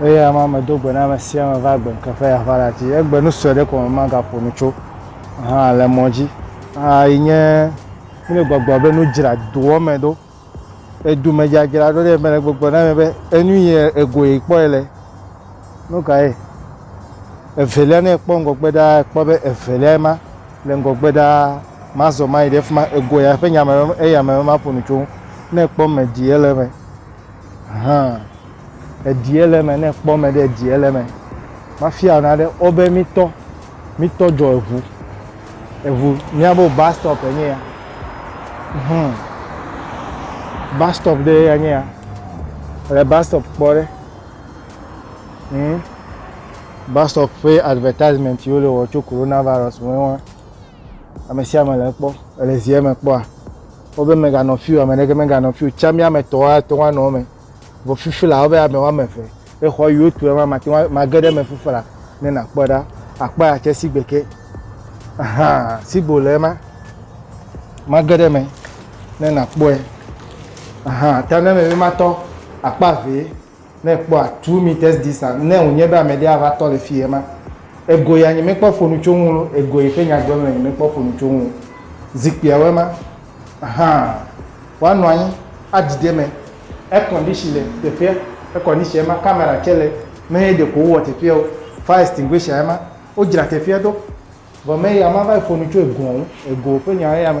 Eya ma medo gbe na ame sia ame va agbe ŋkeke ƒe aʋa la dzi. Egbe nu sue ɖe ko me magaƒo nu tso hã le mɔ dzi. Aa yi nye mele gbɔgblɔ be nu dzra doɔ me ɖo. Edu me dzadzra ɖo ɖe mele gbɔgblɔ na mi be enu yi egoe kpɔe le. Nu kae? Evelia, ne ekpɔ ŋgɔgbe ɖaa, ekpɔ be evelia ma le ŋgɔgbe ɖaa, mazɔ mayi ɖe fi ma, egoa ya ƒe nyame eya me maƒo nu tso. Ne ekpɔ me ɖi ele me, hã eɖi ele me, ne ekpɔ me ɖe eɖi ele me. Mafia na ɖe wo be mitɔ, mitɔ dzɔ eŋu, eŋu miabo bus stop enye ya. Hmm. Bus stop ɖe enye ya. Le bus stop kpɔ ɖe. Hmm? Bus stop ƒe advertisement yiwo le wɔ tso coronavirus ŋu wa. Ame sia ame le ekpɔ, ele zie me kpɔa. Wobe meganɔ fiu, ame ɖeke meganɔ fiu. Tsa mi ame etɔ̃ ate ŋu anɔ eme. Vɔ fifi la, wobe ame woame eve. Exɔ yiwo tu ema mate ŋu mage ɖe eme fifi la ne nakpɔe ɖa. Akpɔ ya tse sigbe ke. Ahan, sigbo le ema. Mage ɖe eme. ne nakpɔe. Aha, ta ne mebe matɔ akpa ʋee, ne ekpɔa two meters distance, ne wònye be ame ɖe ava tɔ le fiyɛ ma, ego ya nye mekpɔ ƒonu tso ŋu lo, ego yi ke nya gblɔm le nye mekpɔ ƒonu tso ŋu. Zikpuiawoe ma. Aha, woanɔ anyi, adidi eme, air condition le teƒea, air condition ema, camera tsɛ le, meye ɖeko wowɔ teƒea o, fire extinguisher ema, wodzra teƒea ɖo. Vɔ meya mava yi ƒonu tso egoa ŋu, ego ƒe nya eya me.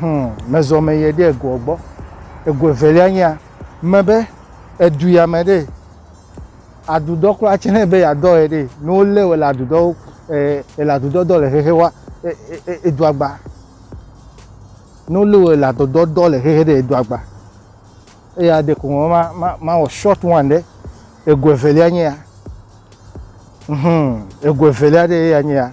Hum, mezɔ me yie ɖe egoa gbɔ. Ego evelia nyea, mebe edu ya me ɖe adudɔ kura tse ne be yeadɔ ye ɖe ne wolé wòle adudɔ ele adudɔ dɔ le xexe wa edu agba. Ne wolé wòle adudɔ dɔ le xexe ɖe edu agba. Eya ɖeko ma ma ma mawɔ short one ɖe ego evelia nyea. Hum, ego evelia ɖe eya nyea.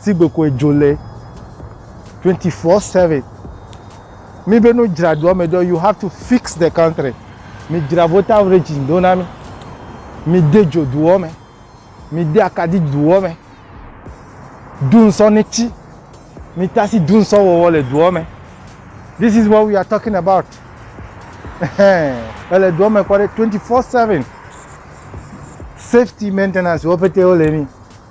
sigbe koe dzo le 24/7 mi be no dzra doa me do you have to fix the country mi dzra voter regime do na mi mi de dzo doa me mi de akadi doa me dunsɔ ne ti mi tasi dunsɔ wɔwɔ le doa me this is what we are talking about ele doa me kɔ 24/7 safety maintenance wo pete wo le mi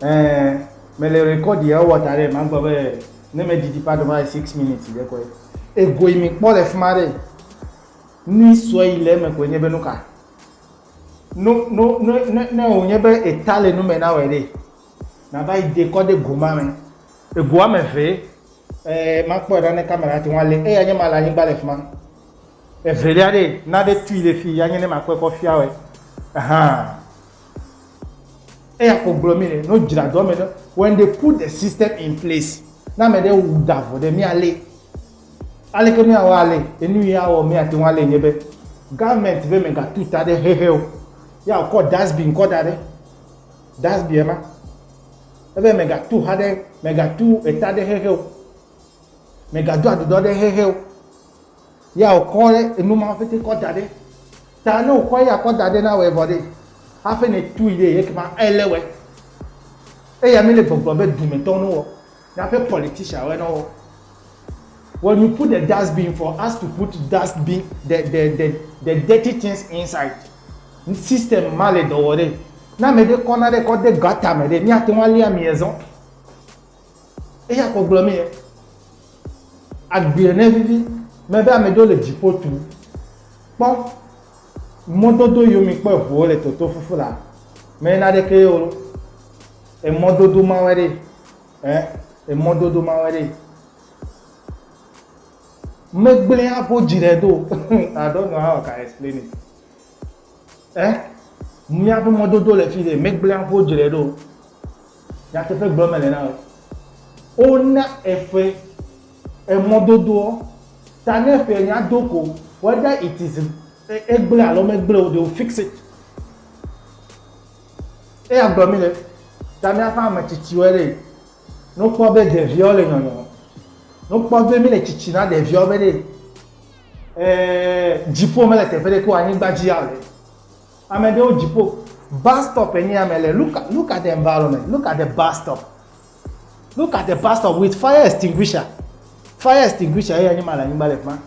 Ɛɛ, mele rekɔdi ewɔ da ɖɛ magblɔ be ne medidi ƒe adoma le six minutes ɖe koe. Ego yi mikpɔ le fi ma ɖe, nu sue yi le eme koe nye be nu ka? No, no, no, ne, ne wònye be eta le nu me na wòe ɖe, nàva yi de kɔ ɖe go ma me. Ego ame eve, ɛɛ, makpɔe ɖa ne kamera ate ŋu alé eya nye ma le anyigba le fi ma. Evelia ɖe, nane tui le fi, anye ne makpɔe kɔ fia wòe. Ahan. Eya ko gblɔ mí le, ne wodzra dɔ me ɖe, when they put the system in place, ne ame ɖe wu da vɔ ɖe, míalée. Aleke míawɔ alée? Enu yi awɔ míate ŋu alée nye be, government be megatu ta ɖe xexe o. Ya wòkɔ dustbin kɔ da ɖe, dustbin ema. Ebe megatu xa ɖe, megatu eta ɖe xexe o. Megado aɖuɖɔ ɖe xexe o. Ya wòkɔ ɖe enu ma ƒete kɔ da ɖe. Ta ne wòkɔ eya kɔ da ɖe na wòe vɔ ɖe, hafi nètui ɖe, ekema ele wòe. Eya mi le gbɔgblɔ be dumetɔwo ne wɔ, naƒe politician woe ne wɔ. When you put the dustbin for us to put dustbin the the the the dirty things inside. System ma le dɔ wɔ ɖe. Ne ame ɖe kɔ nane kɔ de gutter me ɖe, míate ŋu alia amia zɔ. Eya kɔ gblɔ mee, Agbee ne vivi mebe ame ɖewo le dziƒo tum. Kpɔ mɔdodo yio mi kpɔ eʋuwo le toto fufu la, me naɖeke yio lo. Emɔdodo mawe ɖe, eh, emɔdodo mawe ɖe. Megblẽ aƒo dzi ɖe do. I don't know how I can explain it. Ɛ? Míaƒe mɔdodo le fi ɖe, megblẽ aƒe wodzrae ɖo. Nyateƒe gblɔ mele na wò. Wona eƒe emɔdodoɔ ta ne eƒe nya do ko whether it is egblẽ alo megblẽ o, they will fix it. Eya gblɔ mi ɖe, ta míaƒe ame tsitsiwoe ɖe, ne wokpɔ be ɖeviawo le nyɔnyɔ, ne wokpɔ be míle tsitsi na ɖeviawo be ɖe, Ee, dziƒo mele teƒe ɖe ko anyigba dzi ya le. Ame ɖewo dziƒo bus stop enye ame le. Look at, look at the environment. Look at the bus stop. Look at the bus stop with fire extinguisher. Fire extinguisher ye anyima le anyigba le kuma.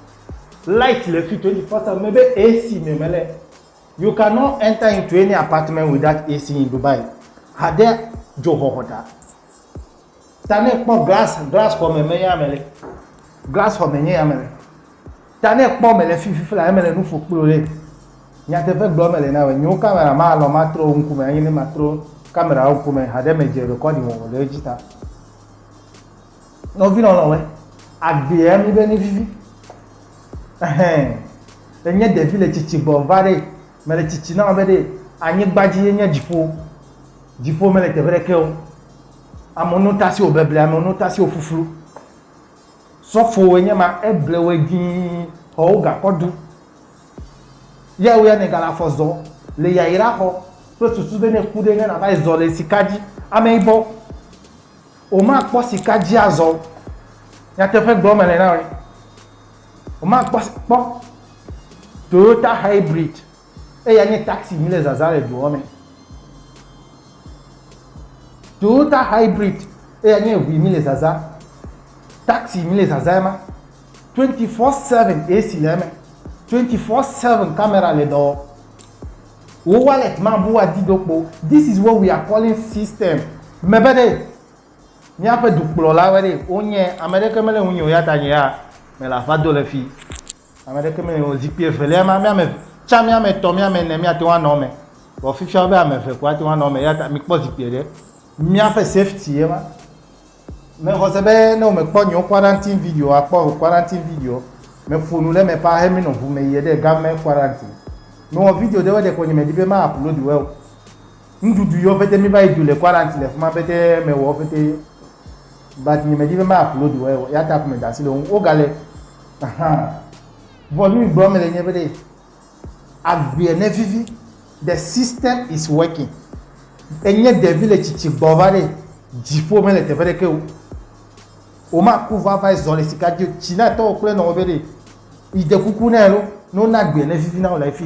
Light le fi 24/7 mebe AC me mele. You cannot enter into any apartment without AC in Dubai. Hade dzoxɔxɔ ta. Ta ne ekpɔ glas, glas xɔ me me ya me le. Glas xɔ me nye ya me le. Ta ne ekpɔ me le fi fifi la, eme le nu ƒo kplo le. Nyateƒe gblɔ me le na wɔ. Nyewo kamera ma lɔ ma trɔ wo ŋku me. Anyi ne ma trɔ kamera wo ŋku me haɖe me dze rekɔdi wɔwɔ le edzi ta. Nɔvi lɔlɔ wɛ. Agbe ya mi be ni vivi. Ehe. Enye devi le cici gbɔ va ɖe. Me le cici na wɔ be ɖe. Anyi gbadzi ye nye dziƒo. Dziƒo me le teƒe ɖe ke wo. Amewo no tasi wo beble, amewo no tasi wo fuflu. Sɔfo wo nye ma, eble wo dii, xɔ wo gakɔ du. Ya wo ya ne gala fɔ zɔ le yayira xɔ kple susu be ne ku ɖe ne nava yi zɔ le sika dzi. Ame yibɔ, wo ma kpɔ sika dzi azɔ. Nyateƒe gblɔ me le na wo. Wo ma kpɔ kpɔ Toyota hybrid. Eya nye taxi mí le zazã le doa me. Toyota hybrid eya nye ŋui mí le zazã. Taxi mí le zazã ma. 24/7 AC le eme. 24/7 camera le dɔ. Wo wallet ma bu adi do kpo. This is what we are calling system. Mebe ɖe míaƒe dukplɔlawo ɖe wonye ame ɖeke mele ŋunye o ya ta nye ya mele aƒa do le fi. Ame ɖeke meli o, zikpui evelia ma, mía ame tsã, mía ame etɔ̃, mía ame ene míate ŋu anɔ eme. Vɔ fifia wobe ame eve ko ate ŋu anɔ eme eya ta mikpɔ zikpui ɖe. Míaƒe safety ye ma. Mexɔ se be ne womekpɔ nyewo quarantine video akpɔ o quarantine video. Meƒo nu ɖe eme ƒaa hemi nɔ ŋu me yie ɖe game quarantine. Mewɔ video ɖewoe ɖeko nye medi be ma upload woe o. Nuɖuɖu yɔ ƒete mi va yi du le quarantine le fima ƒete me wɔ ƒete but nye me di be ma upload wɔ ye ya ta ko me da asi le wo wo ga le ahan vɔ nu gblɔ me le nye be de agbea ne vivi the system is working enye devi le tsitsi gbɔ va de dziƒo me le teƒe ɖe ke o o ma ku va va zɔ le sika di tsi na tɔ kple nɔ wo be de ide kuku ne lo no na agbea ne vivi na wo le fi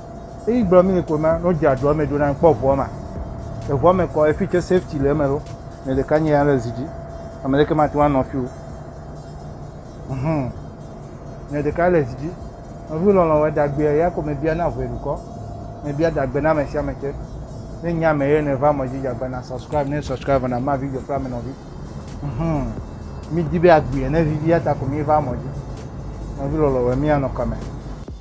Eyi gblɔ mi ko ma no dza dua me do na kpɔ vua ma. E vua me kɔ efi tse safety le me lo. Me de kanye ya le zidi. Ame le ke ma tuwa no fi o. Mhm. Me de ka le zidi. Me vu lo lo da gbe ya ko me bia na vue ko. Me bia da gbe na me sia me tse. Ne nya me ye ne va mo ji ja gbe na subscribe ne subscribe na ma video fra me no vi. Mhm. Mi di be agbe ne vivi ya ta ko mi va mo ji. Me vu lo lo we mi ano kame.